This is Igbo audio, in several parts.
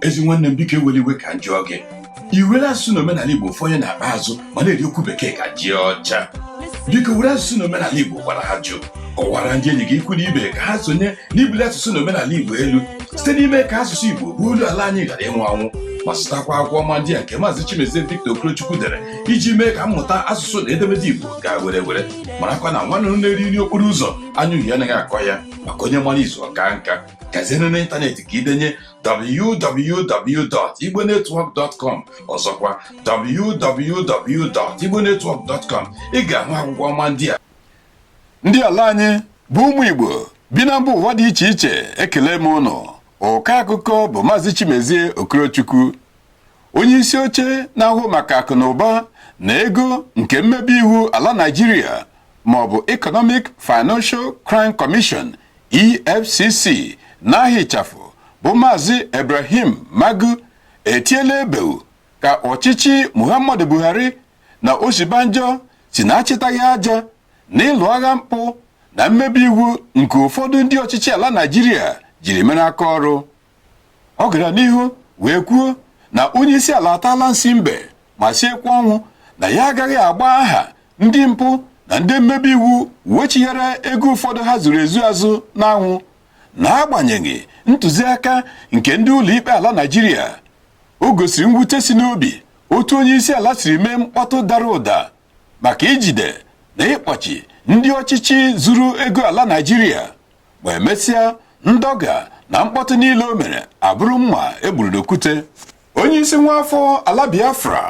ezi nwanne m biko ewela iwe ka m jụọ gị i were asụsụ na omenala igbo fọnye n'akpa azụ ma na-eri okwu bekee ka ji ọcha biko were asụsụ na omenala igbo gwara ajụ kọwara ndị enyi gị ikwu na ibe ka ha sonye n'ibuli asụsụ na omenala igbo elu site n'ime ka asụsụ igbo bụ olu ala anyị ghara ịnwụ anwụ ma zụtakwa akwụkwọ ọma ndị a nke maazị chimezie victor okorochukwu dere iji mee ka mmụta asụsụ na edemede igbo gaa were were marakwa na nwa nduru na-eri nri okporo ụzọ anya uhie anaghị akọ ya maka onye mara izu ọ kaa nka gazie n'ime ịntanetị ka i denye www.igbonetwork.com ọzọkwa www.igbonetwork.com ị ga-ahụ akwụkwọ ọma ndị a ndị ala anyị bụ ụmụ Igbo bi na mba ụwa dị iche iche ekele m ụnụ ọka akụkọ bụ Maazị Chimezie Okorochukwu onye isi oche na-ahụ maka akụ na ụba na ego nke mmebi iwu ala Naịjirịa ma ọ bụ Economic Financial Crime Commission EFCC n'aha ịchafụ bụ Maazị Ibrahim Magu etiela ebeu ka ọchịchị Muhammadu Buhari na Osibanjo si na-achịtaghị aja na ịlụ agha mpụ na mmebi iwu nke ụfọdụ ndị ọchịchị ala Naịjirịa jiri mere aka ọrụ ọ gara n'ihu wee kwuo na onye isi ala ataala nsi mbe ma siekwa ọnwụ na ya agaghị agba aha ndị mpụ na ndị mmebi iwu wechighara ego ụfọdụ ha zuru ezu azụ n'anwụ n'agbanyeghị ntụziaka nke ndị ụlọikpe ala Naịjirịa o gosiri mwute si n'obi otu onye isi ala siri mee mkpọtụ dara ụda maka ijide na ịkpọchi ndị ọchịchị zuru ego ala Naịjirịa ma emesịa ndọga na mkpọtụ niile o mere abụrụ mma e gburu n'okwute onye isi nwa afọ ala Biafra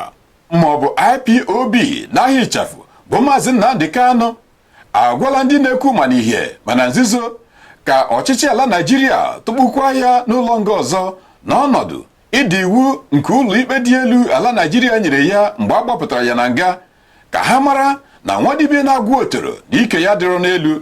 ma ọ bụ IPOB n'aha ịchafụ bụ maazị Nnamdi Kanu agwala ndị na-ekwu ma n'ihe ma na nzuzo ka ọchịchị ala Naịjirịa tụkpukwa ya n'ụlọ nga ọzọ n'ọnọdụ ịda iwu nke ụlọ ikpe dị elu ala Naịjirịa nyere ya mgbe a gbapụtara ya na nga ka ha mara na nwadibia na-agwọ otoro na ike ya adịrọ n'elu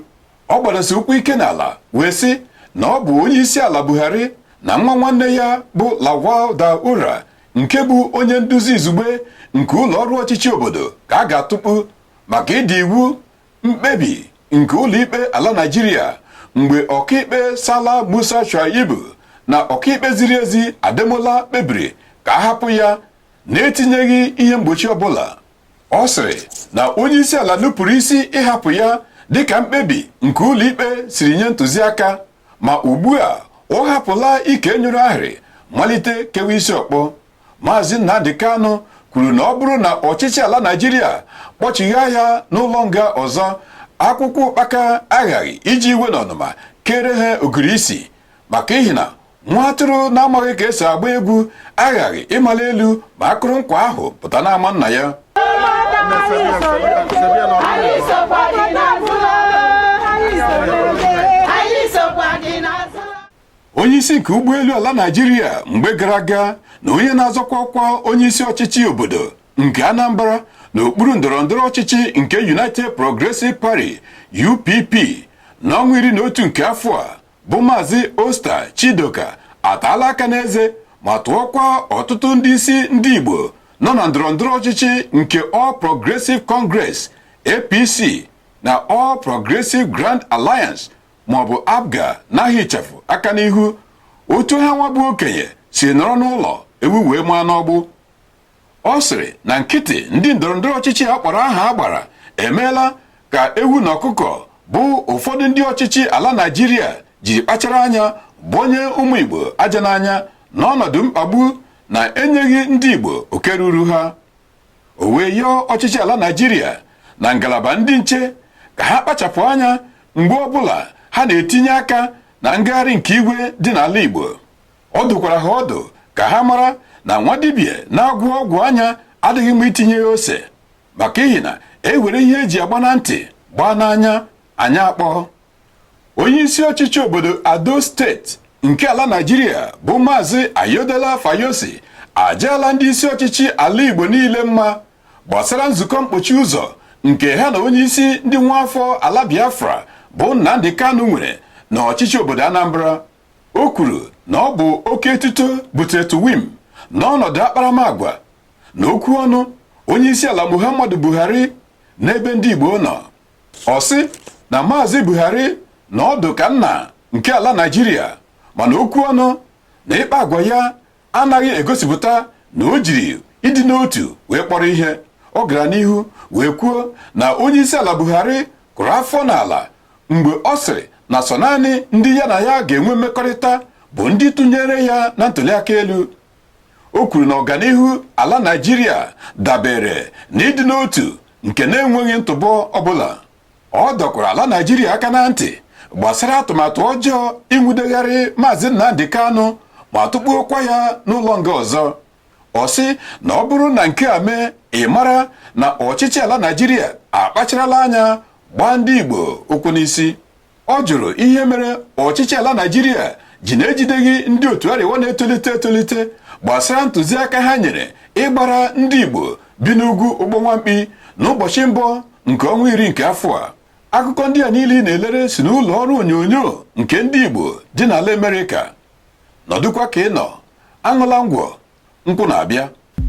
ọ gbadasi ụkwụ ike n'ala wee sị na ọ bụ onye isi ala Buhari na nwa nwanne ya bụ Lawal Daura nke bụ onye nduzi izugbe nke ụlọ ọrụ ọchịchị obodo ka a ga-atụkpu maka ịda iwu mkpebi nke ụlọikpe ala Naịjirịa mgbe ọkaikpe Sala Musa Shuaibu na ọkaikpe ziri ezi Ademola kpebiri ka a hapụ ya na-etinyeghị ihe mgbochi ọbụla ọ sịrị na onye isi ala nupụrụ isi ịhapụ ya dịka mkpebi nke ụlọikpe siri nye ntụziaka ma ugbu a ọ hapụla ike nyụrụ ahịrị malite kewa isi ọkpọ maazị Nnamdi Kanu kwuru na ọ bụrụ na ọchịchị ala Naịjirịa kpọchigha ya n'ụlọ nga ọzọ akwụkwọ ụkpaka aghaghị iji iwe na ọnụma kere ha ogiri isi maka ihi na nwa atụrụ na-amaghị ka esi agba egwu aghaghị ịmali elu ma akụrụ nkwa ahụ pụta n'ama nna ya onye isi nke ụgbọelu ala Naịjirịa mgbe gara aga na onye na-azọkwa ọkwa onye isi ọchịchị obodo nke Anambra n'okpuru ndọrọ ndọrọ ọchịchị nke United Progressive Party UPP n'ọnwa iri na otu nke afọ a bụ Maazị Osita Chidoka ataala aka n'eze ma tụọkwa ọtụtụ ndị isi ndị Igbo nọ na ndọrọndọrọ ọchịchị nke All Progressive Congress APC na All Progressive Grand Alliance maọbụ APGA n'aha ịchafụ aka n'ihu otu ha nwa bụ okenye si nọrọ n'ụlọ ewu wee mụa n'ọgbụ ọ sịrị na nkịtị ndị ndọrọndọrọ ọchịchị a kpọrọ aha a gbara emeela ka ewu na ọkụkọ bụ ụfọdụ ndị ọchịchị ala Naịjirịa jiri kpachara anya gbonye ụmụ Igbo aja n'anya n'ọnọdụ mkpagbu na enyeghị ndị Igbo oke ruru ha o wee yọọ ọchịchị ala Naịjirịa na ngalaba ndị nche ka ha kpachapụ anya mgbe ọbụla ha na-etinye aka na ngagharị nke igwe dị n'ala Igbo ọ dụkwara ha ọdụ ka ha mara na nwa dibịa na-agwọ ọgwụ anya adịghị mma itinye ya ose maka ihi na e were ihe eji agba na ntị gbaa n'anya anya akpọọ onye isi ọchịchị obodo Ado steeti nke ala Naịjirịa bụ Maazị Ayodele Fayose ajaala ndị isi ọchịchị ala Igbo niile mma gbasara nzukọ mkpochi ụzọ nke ha na onye isi ndị nwa afọ ala Biafra bụ Nnamdi Kanu nwere na ọchịchị obodo Anambra O kwuru na ọ bụ oke etuto butere tuwim n'ọnọdụ akparamagwa na okwu ọnụ onyeisiala Muhammadu Buhari n'ebe ndị Igbo nọ. Ọ sị na Maazị Buhari nọ ọdụ ka nna nke ala Naịjirịa mana okwu ọnụ na ịkpa agwa ya anaghị egosipụta na o jiri ịdị n'otu wee kpọrọ ihe ọ gara n'ihu wee kwuo na onye isi ala Buhari kụrụ afọ n'ala mgbe ọ sịrị na sọ naanị ndị ya na ya ga-enwe mmekọrịta bụ ndị tụnyere ya na ntuliaka elu o kwuru na ọganihu ala Naịjirịa dabere n'ịdị n'otu nke na-enweghị ntụpọ ọbụla ọ dọkwara ala Naịjirịa aka na ntị gbasara atụmatụ ọjọọ inwudegharị Maazị Nnamdi Kanu ma tụkpuokwa ya n'ụlọ nga ọzọ ọ sị na ọ bụrụ na nke a mee ị mara na ọchịchị ala Naịjirịa akpacharala anya gbaa ndị Igbo ụkwụ n'isi ọ jụrụ ihe mere ọchịchị ala Naịjirịa ji na-ejideghị ndị otu Arewa na-etolite etolite gbasara ntụziaka ha nyere ịgbara ndị Igbo bi n'ugwu ụgbọ nwa mkpi n'ụbọchị mbụ nke ọnwa iri nke afọ a akụkọ ndị a niile ị na-elere si n'ụlọ ọrụ onyonyo nke ndị Igbo dị n'ala Amerịka nọdụkwa ka ị nọ aṅụla ngwọ nkwụ na-abịa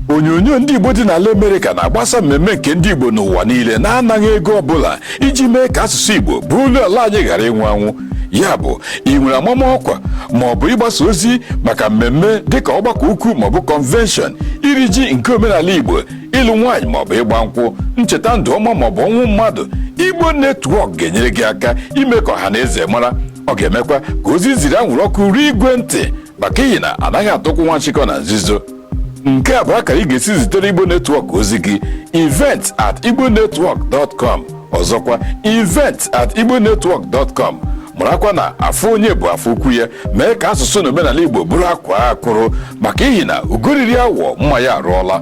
onyonyo ndị Igbo dị n'ala Amerịka na-agbasa mmemme nke ndị Igbo n'ụwa niile na-anaghị ego ọbụla iji mee ka asụsụ Igbo bụ olu ala anyị ghara ịnwụ anwụ ya bụ ị nwere amama ọkwa ma ọ bụ ịgbasa ozi maka mmemme dịka ọgbakọ ukwu maọbụ convention iri ji nke omenala Igbo ịlụ nwaanyị maọbụ ịgba nkwụ ncheta ndụ ọma maọbụ ọnwụ mmadụ Igbo Network ga-enyere gị aka ime ka ọha na eze mara ọ ga-emekwa ka ozi ziri anwụrụ ọkụ ruo igwe ntị maka ihi na anaghị atụkwụ nwa nchịkọ na nzuzo nke a bụ akara ị ga-esi zitere igbo network ozi gị event at igbonetwork.com ọzọkwa event at igbonetwork.com marakwa na afọ onye bụ afọ ukwu ya mee ka asụsụ na omenala igbo bụrụ akwaa akwụrụ maka ihi na ugo riri awọ mma ya arụọla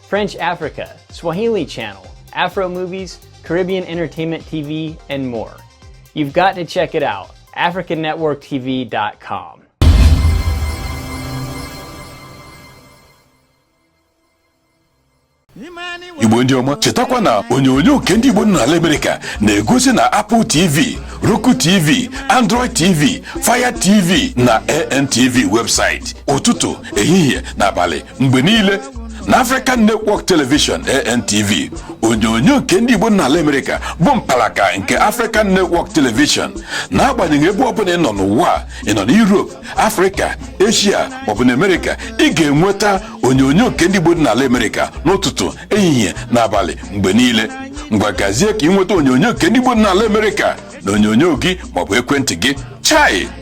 French Africa, Swahili Channel, Afro Movies, Caribbean Entertainment TV, and more. You've got to check it out, AfricanNetworkTV.com. igbo ndị ọma chetakwa na onyonyo nke ndị igbo n'ala Amerịka na-egosi na apple tv roku tv android tv fire tv na antv website ụtụtụ ehihie na abalị mgbe niile na African Network Television ANTV onyonyo nke ndị Igbo dị n'ala Amerịka bụ mpalaka nke African Network Television n'agbanyeghị ebe ọ bụla ị nọ n'ụwa, ị nọ na Europe Africa Asia maọbụ na Amerịka ị ga-enweta onyonyo nke ndị Igbo dị n'ala Amerịka n'ụtụtụ ehihie na abalị mgbe niile ngwa gazie ka ị nweta onyonyo nke ndị Igbo dị n'ala Amerịka na onyonyo gị maọbụ ekwentị gị chai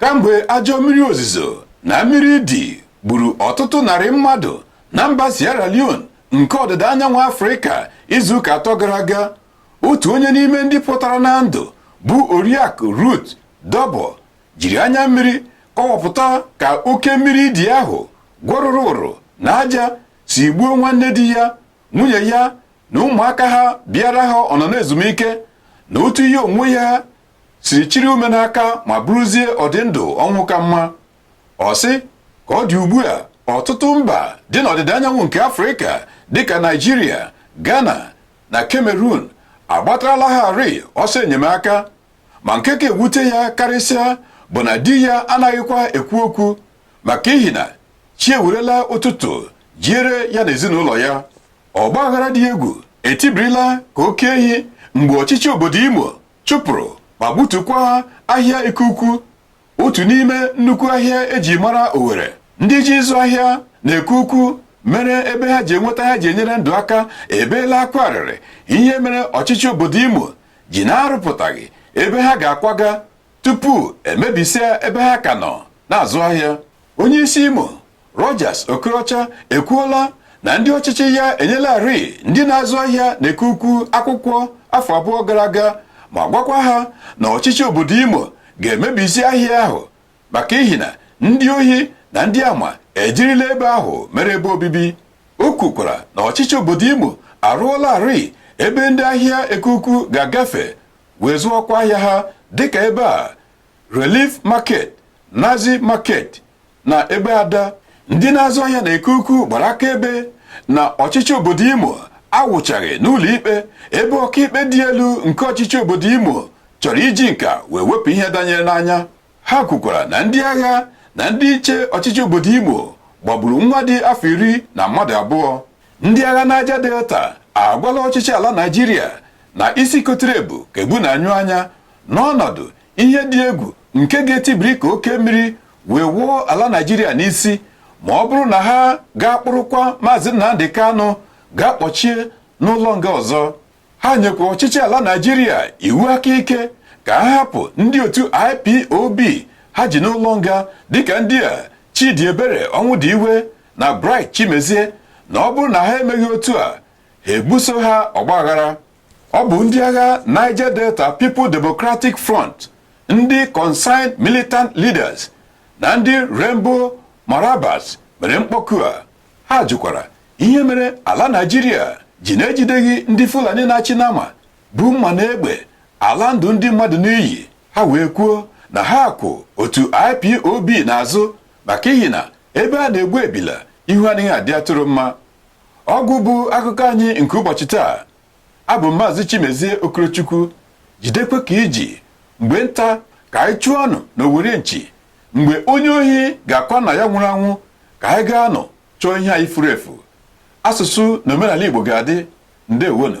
kamgbe ajọ mmiri ozizo na mmiri idi gburu ọtụtụ narị mmadụ na mba Sierra Leone nke ọdịda anyanwụ Afrịka izuụka atọ gara aga otu onye n'ime ndị pụtara na ndụ bụ oriakụ Ruth Dobo jiri anya mmiri kọwapụta ka oke mmiri idi ahụ gwọrụrụ ụrụ na aja si gbuo nwanne di ya nwunye ya na ụmụaka ha bịara ha ọnọ na ezumike na otu ya onwe ya siri chịrị ume n'aka ma bụrụzie ọdịndụ ọnwụ ka mma ọ sị ka ọ dị ugbu a ọtụtụ mba dị n'ọdịda anyanwụ nke afrịka dịka naịjirịa ghana na cameroon agbatarala ha rịị ọsọ enyemaka ma nke ka ewute ya karịsịa bụ na di ya anaghịkwa ekwu okwu maka ihi na chi ewerela ụtụtụ jiere ya na ezinụlọ ya ọgbaaghara dị egwu etibirila ka oke ehi mgbe ọchịchị obodo imo chụpụrụ ma gbutukwa ahịa Eke Ukwu otu n'ime nnukwu ahịa eji mara Owerri ndị ji ịzụ ahịa na eke ukwu mere ebe ha ji enweta ihe ha ji enyere ndụ aka ebeela akwa arịrị ihe mere ọchịchị obodo Imo ji na-arụpụtaghị ebe ha ga-akwaga tupu emebisia ebe ha ka nọ na-azụ ahịa onye isi Imo Rochas Okorocha ekwuola na ndị ọchịchị ya enyelarị ndị na-azụ ahịa na Eke ukwu akwụkwọ afọ abụọ gara aga ma gwakwa ha na ọchịchị obodo Imo ga-emebisi ahịa ahụ maka ihi na ndị ohi na ndị ama ejirila ebe ahụ mere ebe obibi o kwukwara na ọchịchị obodo Imo arụọlarị ebe ndị ahịa eke ukwu ga-agafe wee zụọkwa ahịa ha dịka ebe a Relief Market, Naze Market na Egbeada ndị na-azụ ahịa na eke ukwu gbara akaebe na ọchịchị obodo Imo awụchaghị n'ụlọ ikpe ebe ọkaikpe dị elu nke ọchịchị obodo Imo chọrọ iji nka wee wepụ ihe danyere n'anya ha kwukwara na ndị agha na ndị nche ọchịchị obodo Imo gbagburu nwa dị afọ iri na mmadụ abụọ ndị agha Niger Delta agwala ọchịchị ala Naịjirịa na isi kotere ebu ka ebu na-anyụ anya n'ọnọdụ ihe dị egwu nke ga-etibiri ka oke mmiri wee wụọ ala Naịjirịa n'isi ma ọ bụrụ na ha ga-akpụrụkwa maazị Nnamdi Kanu gaa kpọchie n'ụlọ nga ọzọ ha nyekwa ọchịchị ala Naịjirịa iwu aka ike ka ha hapụ ndị otu ipob ha ji n'ụlọ nga dịka ndị a Chidiebere Ọnwụdiwe na bright chimezie na ọ bụrụ na ha emeghị otu a ha ebuso ha ọgbaghara ọ bụ ndị agha Niger Delta People Democratic Front ndị Concerned Militant Leaders na ndị Rainbow Marambas mere mkpọku a ha jụkwara ihe mere ala Naịjirịa ji na-ejideghị ndị Fulani na-achị nama bu mma na egbe ala ndụ ndị mmadụ n'iyi ha wee kwuo na ha kwụ otu IPOB n'azụ maka ihi na ebe a na-egbu ebila ihu anaghị adị atụrụ mma ọgwụgwụ akụkọ anyị nke ụbọchị taa abụ m maazị Chimezie Okorochukwu jidekwa ka i ji mgbe nta ka anyị chụọ anụ na owere nchi mgbe onye ohi ga-akwa nna ya nwụrụ anwụ ka anyị gaanụ chọọ ihe anyị furu efu asụsụ na omenala Igbo ga-adị ndeewonụ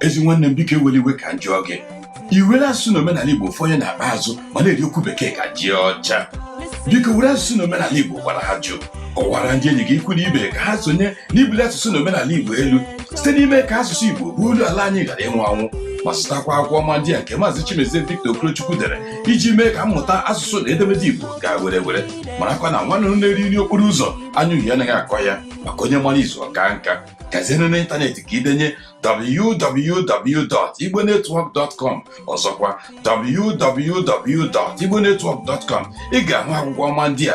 ezi nwanne m biko ewela iwe ka m jụọ gị i were asụsụ na omenala igbo fọnye n'akpa azụ ma na-eri okwu bekee ka ji ọcha biko were asụsụ na omenala igbo gwara ajụ kọwara ndị enyi gị ikwu na ibe ka ha sonye n'ibuli asụsụ na omenala igbo elu site n'ime ka asụsụ igbo bụ olu ala anyị ghara ịnwụ anwụ ma zụtakwa akwụkwọ ọma ndị a nke maazị Chimezie Victor Okorochukwu dere iji mee ka mmụta asụsụ na edemede igbo gaa were were marakwa na nwanne na-eri nri okporo ụzọ anya uhie anaghị akọ ya maka onye mara izu ọka nka gazie n'ịntanetị ka i denye www.igbonetwork.com ọzọkwa www.igbonetwork.com ị ga-ahụ akwụkwọ ọma ndị a